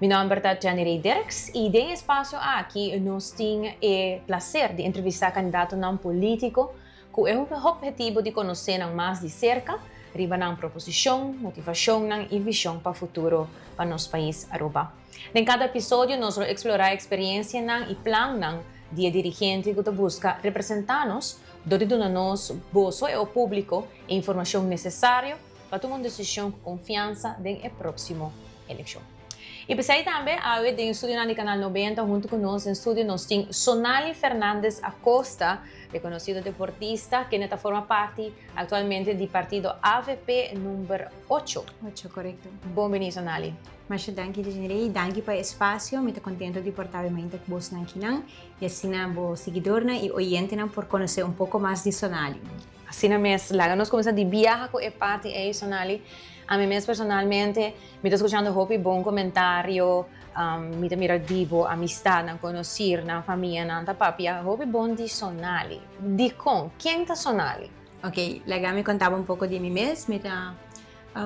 Mi nomber ta Jenny-Rae Dirks y den e espacio aki nos tin e placer di entrevista candidatonan politico cu e hobhetivo di conoce nan mas di cerca riba nan proposicion, motivacionnan y vision pa futuro pa nos pais Aruba. Den cada episodio nos lo explora experiencianan y plannan di e dirigente cu ta busca representa nos dor di duna nos, boso e opublico, e informacion necesario, pa tuma un desishon ku konfiansa den e próksimo elekshon. I p'esei tambe awe den studionan di Kanal Nobenta huntu ku nos den studio nos tin Sonali Fernandez Acosta, rekonosido deportista, kende ta forma parti aktualmente di partido avp number ocho. Ocho, korekto. Bon bini Sonali. Masha danki Desiree i danki pa e spasio. Mi ta kontentu di por tawe mainta ku bosnan kinan i asina bo siguidornan i oyentenan por konosé un poko mas di Sonali. Asina mes, laga nos kuminsá di biaha ku e parti ei, Sonali. Ami mes personalmente mi ta skuchando hopi bon komentario, mi ta mira di bo amistadnan, konosirnan, famia, nan ta papia hopi bon di Sonali. Dikon? Ken ta Sonali? Ok, laga mi konta bo un poko di mi mes. Mi ta,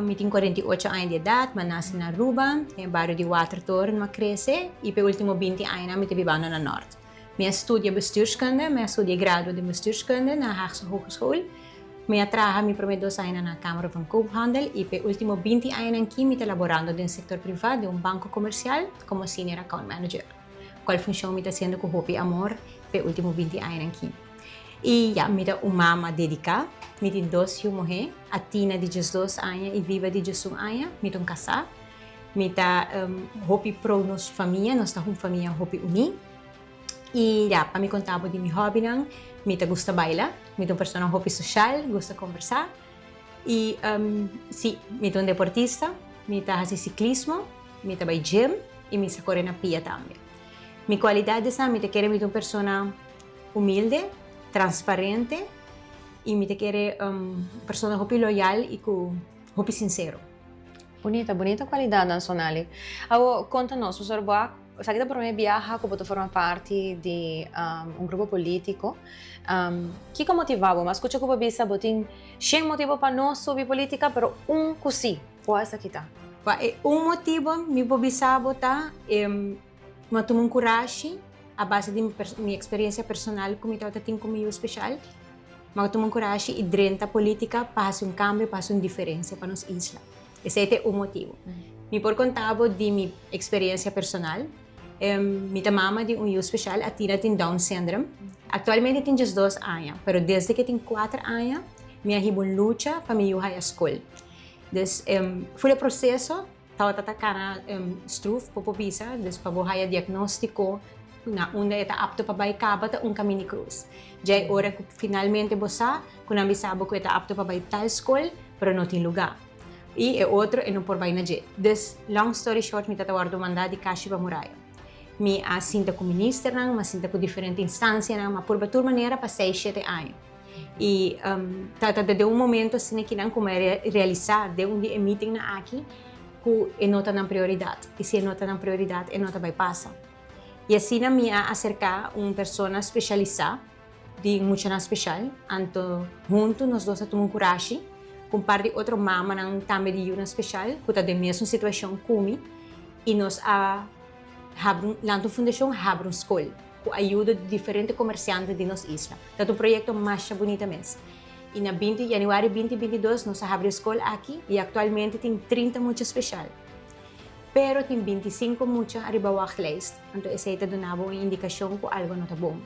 mi tin kuarenta i ocho aña di edat, mi a nase na Aruba, den e bario di Watertoren mi a krese, i p'e último binti añanan mi ta bibando na Nòrti. Mi a studia bestuurskunde, mi a studia e grado den bestuurskunde na Haagse Hogeschool. Mi a traha mi promé dos añanan na Kamer van Koophandel i p'e último binti añanan akí mi ta laborando den sektor privá den un banko komersial komo senior account manager, kual funshon mi ta hasiendo ku hopi amor p'e último binti añanan akí. I ya, mi ta un mama dediká. Mi tin dos yu muhé, Athina di diesdos aña i Viva di diesun aña. Mi ta un kasá. Mi ta hopi prou nos famia, nos ta un famia hopi uní. I ya, pa mi kontá bo di mi hòbinan, mi ta gusta baila, mi ta un persona hopi soshal, gusta kombersá. I sí, mi ta un deportista, mi ta hasi siklismo, mi ta bai gim i mi sa kore na pia tambe. Mi kualidat esnan mi ta kere mi ta un persona humilde, transparente i mi ta kere un persona hopi loyal i ku hopi sinsero. Bunita, bunita kualidat nan Sonali. Awor konta nos, Pastor Boak, esaki ta promé biaha ku bo ta forma parti di un grupo polítiko. Kiko motivá bo? Mi a skucha ku bo a bisa bo tin shen motibu pa no subi polítika, pero un ku sí, kua esaki ta? Kua e un motibu? Mi por bisa bo ta. Mi a tuma un kurashi a base di mi eksperiencia personal ku mi tabata tin ku mi yu speshal. Mi a tuma un kurashi i drenta politika pa hasi un kambio, pa hasi un diferencia pa nos isla. Esei ta e un motibu. Mi por konta bo di mi eksperiencia personal. Mi ta mama di un yu speshal. Athena tin Down Syndrome. Aktualmente e tin diesdos aña, pero desde ku e tin kuater aña mi a hiba un lucha pa mi yu haya skol. Dus, fut e proseso. Tabata ta kara struf ku por bisa, dus pa bo haya diagnóstiko na unda e ta apto pa bai kaba ta un kaminda krus. Djai ora ku finalmente bo sa ku nan bisa bo ku e ta apto pa bai tal skol pero no tin lugá. I e otro e no por bai na dje. Dus, long story short, mi ta ta wòrdu mandá di kashi pa Muraya. Mi a sinta ku ministernan, mi a sinta ku diferente instansianan, mi a purba tur manera pa seis shete aña. I trata ta den un momento asina ki nan kuma e realisá den un di e mítingnan aki ku e no ta nan prioridat. I si e no ta nan prioridat e no ta bai pasa. I asina mi a aserká un persona speshalisá di muchanan speshal. Anto huntu nos dos a tuma un kurashi ku un par di otro mamanan tambe di yunan speshal ku ta den mesun situashon ku mi i nos a habri lanta un fundashon habri un skol ku ayuda di diferente komersiante di nos isla. Tat un proyekto masha bunita mes. I na binti Januari binti binti i dos nos a habri e skol aki i aktualmente tin trinta mucha speshal. Pero tin binti i sinku mucha ariba wachtlijst, anto esei ta duna bo un indikashon ku algu no ta bon.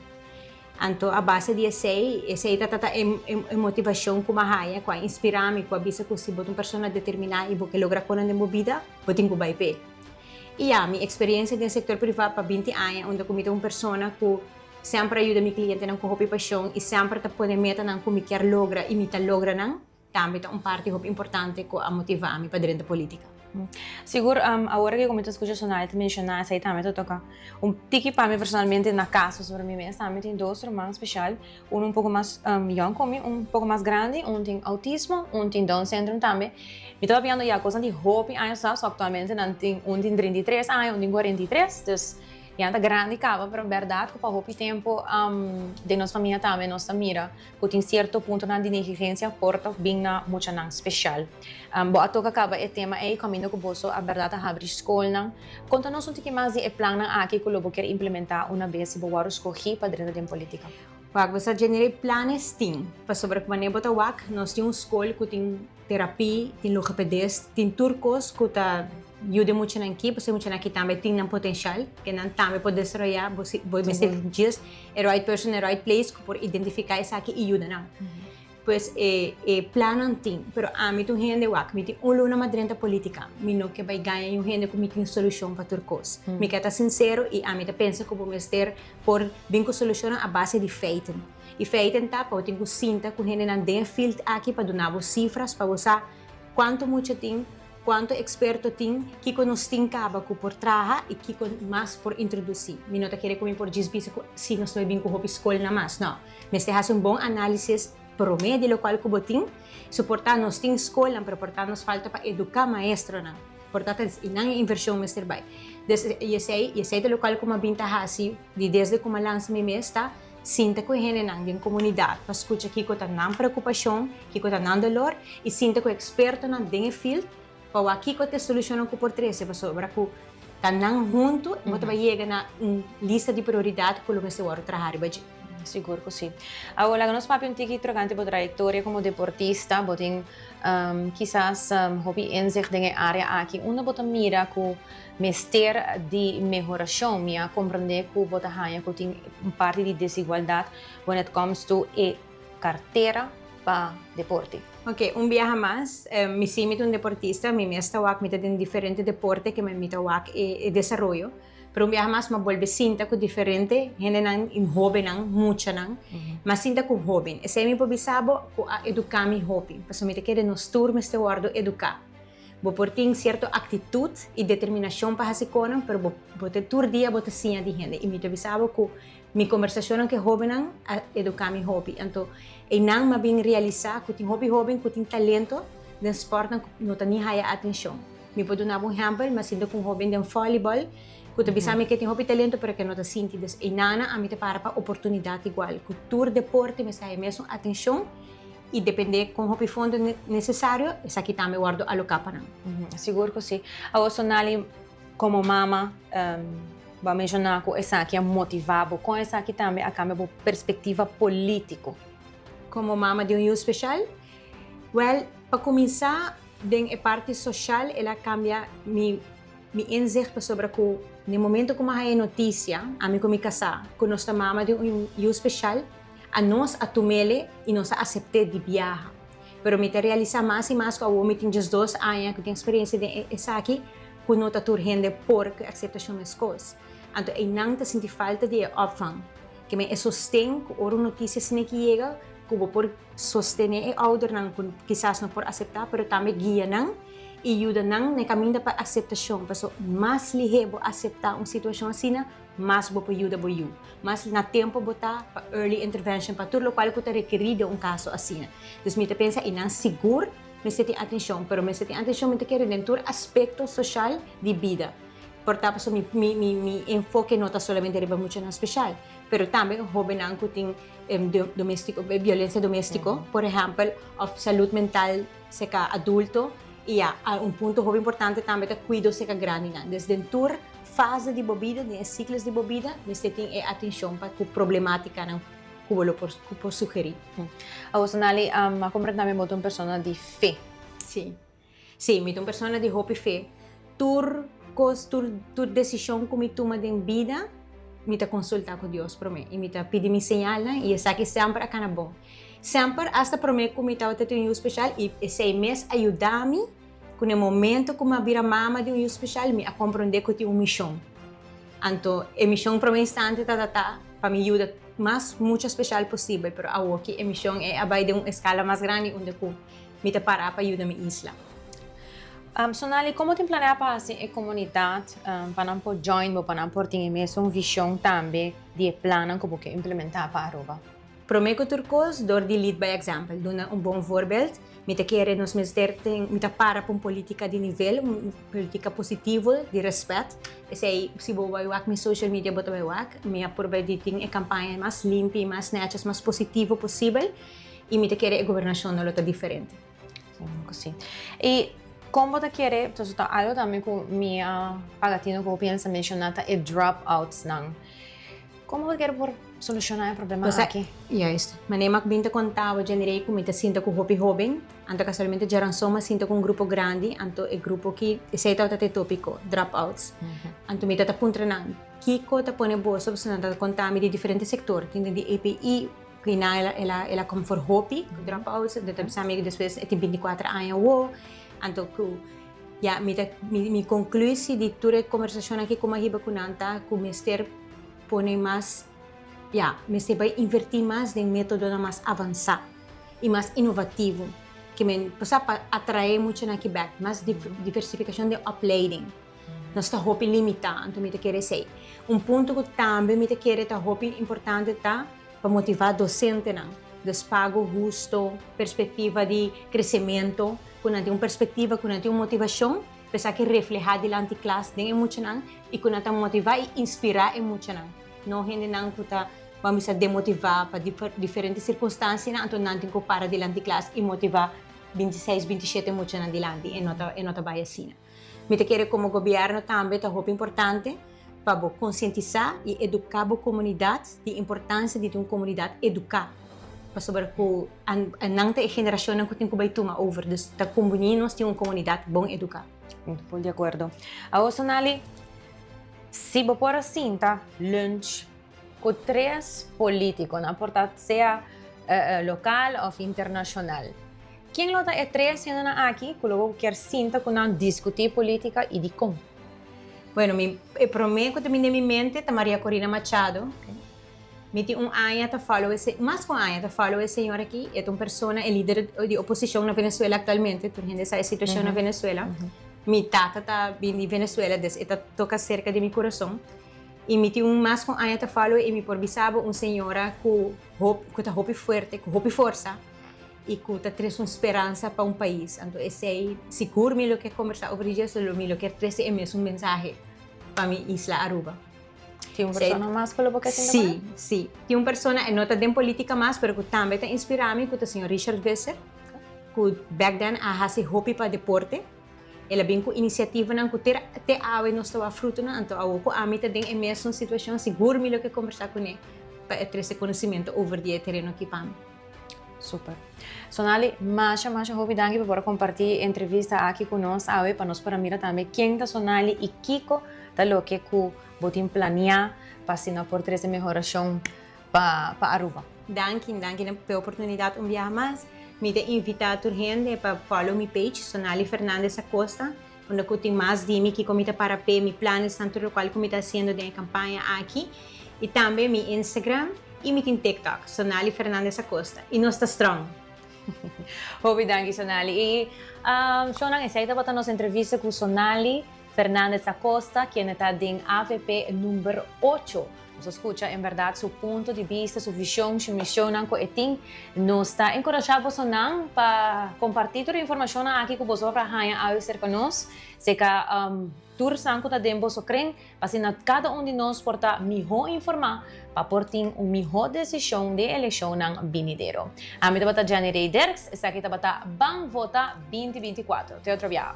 Anto a base di esei, esei ta ta e e motivashon ku mi a haña, ku a inspirá mi, ku a bisa ku si bo ta un persona determiná i bo ke logra konan den bo bida, bo tin ku bai p'e. I ya, mi eksperiencia den sektor privá pa binti aña unda ku mi ta un persona ku Semper a yuda mi klientenan ku hopi pashon i semper ta pone metanan ku mi kier logra i mi ta logra nan, tambe ta un parti hopi importante ku a motivá mi pa drenta polítika. Sigur, awor ku mi ta skucha soná e ta menshoná esei tambe ta toka un tiki pa mi personalmente. Na kaso sobre mi mes tambe tin dos ruman speshal, unu un poko mas yòn ku mi, un poko mas grandi, un tin outismo, un tin down syndrome tambe. Mi ta papiando ya kosnan di hopi años atrás, so aktualmente nan tin, un tin treinta i tres aña, un tin kuarenta i tres, dus. Ya ta grandi caba, pero berdad cu pa hopi tempo den nos famia tambe nos ta mira cu tin cierto puntonan di negligencia por ta bin na muchanan special. Bo a toca caba e tema ey caminda cu boso a berdad a habri scolnan. Conta nos un tiki mas di e plannan aki cu lo bo kier implementa una bes si bo wor scogi pa drenta den politica. Wak, Besa dje nere planes tin. Pasobra cu wanneer bo ta wak, nos tin un scol cu tin. Terapi, tin logopedist, tin tur kos ku ta yuda e muchanan aki, pasobra e muchanan aki tambe tin nan potenshal, ke nan tambe por desaroyá, bo mester djis e right person e right place ku por identifiká esaki i yuda nan. Pues e plannan tin, pero ami ta un hende, wak, mi tin un luna mas drenta polítika, mi no ke bai gaña un hende ku mi tin solushon pa tur kos. Mi ke ta sinsero i ami ta pensa ku bo mester por bin ku solushonnan a base di feiten. I feiten ta pa bo tin ku sinta ku hendenan den e fild aki pa duna bo sifras pa bo sa kuantu mucha tin, kuantu eksperto tin, kiko nos tin kaba ku por traha i kiko mas por introdusí. Mi no ta kere ku mi por djis bisa ku si nos ta bai bin ku hopi skolnan mas. No. Mester hasi un bon análisis promé di lokal ku bo tin. So por ta nos tin skolnan pero por ta nos falta pa eduká maestronan. Por ta ta i nan e invershon mester bai. Des i esei i esei ta lokal ku mi a bin ta hasi di desde ku mi a lansa mi mes ta. Sinta ku e hendenan den komunidat pa skucha kiko ta nan preokupashon, kiko ta nan dolor i sinta ku ekspertonan den e field pa wak kiko ta e solushonnan ku por trese pasobra ku ta nan huntu bo ta bai yega na un lista di prioridat ku lo mester wòrdu traha riba dje. Sigur ku si. Awo laga nos papia un tiki trokante bo trayektoria komo deportista. Bo tin kisas hopi inzicht den e área aki. Unda bo ta mira ku. Mester di mehorashon. Mi a komprendé ku bo ta haña ku tin un parti di desigualdat wen it comes to e kartera pa deporte. Oke, un biaha mas. Mi si mi ta un deportista, mi mes ta wak mi ta den diferente deporte ke mi ta wak e desaroyo. Pero un biaha mas mi a bolbe sinta ku diferente hendenan, hóbennan, muchanan. Mi a sinta ku hóben. Esei mi por bisa bo ku a eduká mi hopi. Pasobra mi ta kere nos tur mester wòrdu eduká. Bo por tin sierto aktitut i determinashon pa hasi konan, pero bo bo ta tur dia bo ta siña di hende. I mi ta bisa bo ku mi kombersashonnan ku e hóbennan a eduká mi hopi. Anto einan mi a bin realisá ku tin hopi hóben ku tin talento den spòrtnan ku no ta ni haya atenshon. Mi por duna bo un hèmpel, mi a sinti ku un hóben den vòlibòl ku ta bisa mi ku e tin hopi talento pero ku e no ta sinti. Dus einanan a mi ta para pa oportunidat igual ku tur deporte mester haya mesun atenshon I depende kon hopi fondo nesesario esaki tambe wòrdu aloká pa nan. Sigur ku si. Awor Sonali, komo mama, bo a menshoná ku esaki a motivá bo. Kon esaki tambe a kambia bo perspektiva polítiko? Komo mama di un yu speshal? Wèl, pa kuminsá den e parti soshal el a kambia mi mi inzicht pasobra ku den e momentu ku mi a haña e notisia, ami ku mi kasá, ku nos ta mama di un yu speshal, A nos a tumele i nos a asept'é di biaha. Pero mi ta realisá mas i mas ku awor mi tin djes dos aña ku tin eksperensia den esaki ku no ta tur hende por ku akseptashon meskos. Anto einan ta sinti falta di e òpvang. Keme e sosten ku ora un notisia asina ke yega ku bo por sostené e oudernan ku kisas no por aseptá pero tambe guia nan i yuda nan na e kaminda pa akseptashon. Pasobra mas lihé bo aseptá un situashon asina, Mas bo por yuda bo yu. Mas na tempo bo ta pa early intervention, pa tur lokual ku ta rekerí den un kaso asina. Dus mi ta pensa i nan sigur mester tin atenshon, pero mester tin atenshon mi ta kere den tur aspekto soshal di bida. Por ta pasobra mi mi mi enfoke no ta solamente riba muchanan speshal, pero tambe hobennan ku tin doméstik biolensia doméstiko, por ehèmpel, òf salud mental seka adulto i ya a un punto hopi importante tambe ta kuido seka grandinan. Des den tur. fase di bo bida, den e siklos di bo bida, mester tin e atenshon pa ku problemátikanan ku bo lo por ku por sugerí. Awoso Nali, a kompra tambe bo ta un persona di fe. Sí. Sí, mi ta un persona di hopi fe. Tur kos, tur tur desishon ku mi tuma den bida, mi ta konsultá ku Dios promé i mi ta pidi mi señalnan i esaki semper a kana bon. Semper, asta promé ku mi tabata tin un yu speshal i esei mes a yuda mi. Cu n'e momento cu mi a bira mama di un yu special, mi a compronde cu tin un mision. Anto, e mision prome instante tabata pa mi yuda mas mucha special posibel, pero awoki e mision ei a bai den un escala mas grandi unda cu mi ta para pa yuda mi isla. Sonali, como tin planea pa haci e comunidad pa nan por join bo, pa nan por tin e mesun vision tambe di e plannan cu bo ke implementa pa Aruba? Promé ku tur kos, dor di lead by example, duna un bon voorbeeld, mi ta kere nos mester tin, mi ta para pa un polítika di nivel, un polítika positivo, di respet. Esei, si bo bai wak mi social media bo ta bai wak, mi a purba di tin e kampaña mas limpi, mas netjes, mas positivo posibel, i mi ta kere e gobernashonnan lo ta diferente. Seguro cu si. Y con bo ta kere, entonces ta algo tambe cu mi a paga tino cu bo piensa menciona ta e drop outs nan. Con bo ta kere por soluciona e problema Cosa, aki? juist. Mane mak bin ta conta bo djendere cu mi ta sinta cu hopi hoben, anto casualmente Geranson mi a sinta cu un grupo grandi, anto e grupo ki, esey tabata t'e topico, drop outs. Anto mi ta ta puntra nan, kico ta pone boso, pasobra nan ta conta mi di diferente sector, tin den di APE, Kina el a kom for hopi ku drop outs anto ta bisa mi ku despues e tin binti kuater aña awo anto ku ya mi ta mi konklusi di tur e kombersashonnan ku koma hiba ku nan ta ku mester pone mas ya mester bai inverti mas den metodonan mas avansá i mas inovativo ke men pasá pa atrae muchanan aki bèk mas diversifikashon den opleiding. Nos ta hopi limitá, anto mi ta kere esei. Un punto ku tambe mi ta kere ta hopi importante ta pa motivá dosentenan. Dus pago husto, perspektiva di kresementu, ku nan tin un perspektiva, ku nan tin un motivashon pa esaki reflehá dilanti klas den e muchanan i ku nan ta motivá i inspirá e muchanan, no hendenan ku ta ban bisa demotivá pa diferente sirkunstansianan, anto nan tin ku para dilanti klas i motivá binti seis, binti shete muchanan dilanti. E no ta bai asina. Mi ta kere komo gobièrnu tambe ta hopi importante pa bo konsientisá i eduká bo komunidat di importansia di tin un komunidat eduká, pasobra ku nan ta e generashonnan ku tin ku bai tuma over, dus ta kon boni nos tin un komunidat bon eduká. Ful di akuerdo. Awor Sonali, si bo por a sinta lunch. Ku tres polítikonan, por ta sea lokal òf internashonal. Ken lo ta e tres hendenan aki ku lo bo kier sinta ku nan diskutí polítika i dikon? Bueno, mi, e promé ku ta bini den mi mente ta Maria Corina Machado. Mi tin un aña ta fòlow e, mas ku un aña ta fòlow e señora aki. E ta un persona, e lider di oposishon na Venezuela aktualmente. Tur hende sa e situashon na Venezuela. Mi tata ta bini Venezuela, des e ta toka serka di mi kurason. I mi tin un mas ku un aña ta falo i mi por bisa bo un señora ku hopi ku ta hopi fuerte ku hopi forsa i ku ta trese un speransa pa un pais anto esei sigur mi lo ke kombersá over di Jesu lo mi lo ke trese e mesun mensahe pa mi isla Aruba. Tin un persona mas ku lo bo ke sinti ku el? Si, si. Tin un persona e no ta den politika mas pero ku tambe ta inspirá mi ku ta señor Richard Visser ku back then a hasi hopi pa deporte. El a bin ku inisiativanan ku te te awe nos ta wak frutunan, anto awor ku ami ta den e mesun situashon sigur mi lo ke kombersá kuné pa e trese konosementu over di e tereno akí pa mi. Super. Sonali, masha masha hopi danki pa por a kompartí e entrevista aki ku nos awe pa nos por a mira tambe ken ta Sonali i kiko ta loke ku bo tin planiá pa asina por trese mehorashon pa pa Aruba. Danki, danki den pe oportunidat un biaha mas. Mi ta invita tur hende pa follow mi page Sonali Fernandez Acosta unda cu tin mas di mi kico mi ta para p'e mi planes nan tur locual cu mi ta haciendo den e campaña aki y tambe mi Instagram y mi tin TikTok Sonali Fernandez Acosta y nos ta strong. Hopi danki Sonali y Shownan esey tabata nos entrevista cu Sonali. Fernandez Acosta, kende ta den avp number ocho. Nos a scucha en berdad su punto di bista, su vision, su misionnan cu e tin. Nos ta encorasha bosonan pa comparti tur e informacionnan aki cu boso a haya awe cerca nos, seca tur san cu ta den boso cren, p'asina cada un di nos por ta miho informa pa por tin un miho decision den e eleccionnan binidero. Ami tabata Janny Rey Derks, esaki tabata Ban Vota binti binti kuatro. Te otro biaha.